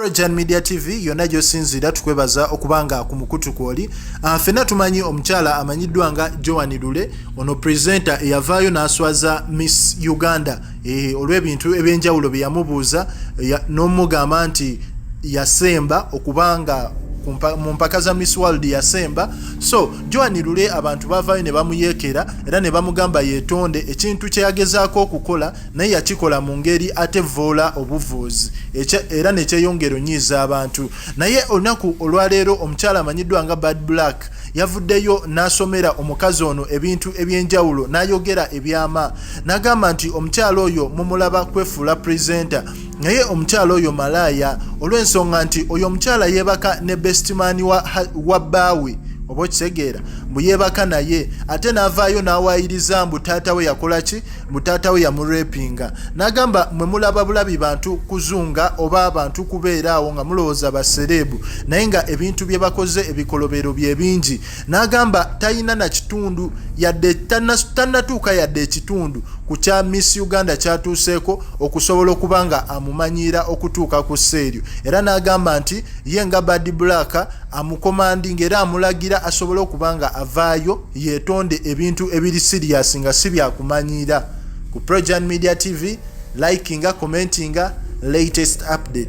Trojan Media TV yonna gy'osinziira tukwebaza okuba nga ku mukutu kw'oli ah, ffenna tumanyi omukyala amanyiddwa nga Joan Lule ono presenta eyavaayo n'aswaza Miss Uganda eh, olw'ebintu eby'enjawulo bye yamubuuza n'omugamba nti yasemba okuba nga mu mpaka za miss world yasemba so joan lule abantu bavaayo ne bamuyeekera era ne bamugamba yeetonde ekintu kye yagezaako okukola naye yakikola mu ngeri ate vvoola obuvuuzi era nekyeyongera onyiiza abantu naye olunaku olwaleero omukyala amanyiddwa nga bad black yavuddeyo n'asomera omukazi ono ebintu eby'enjawulo n'ayogera ebyama n'agamba nti omukyala oyo mumulaba kwefuula presenta naye omukyala oyo malaaya olw'ensonga nti oyo omukyala yeebaka ne bestimani wa bbaawe wa oba okitegeera mbu yeebaka naye ate n'avaayo n'awaayiriza mbu taata we yakola ki mutaata we yamurepinga nagamba mwe mulaba bulabi bantu kuzunga oba abantu kubeera awo nga mulowooza basereebu naye nga ebintu bye bakoze ebikolobero bye bingi nagamba talina na kitundu yadde tanatuuka yadde ekitundu ku kya miss uganda kyatuuseeko okusobola okuba nga amumanyiira okutuuka ku seeryo era nagamba nti ye nga bad black amukomandi nga era amulagira asobole okuba nga avaayo yetonde ebintu ebiri serious nga si byakumanyiira ku projan media tv likinga commentinga latest update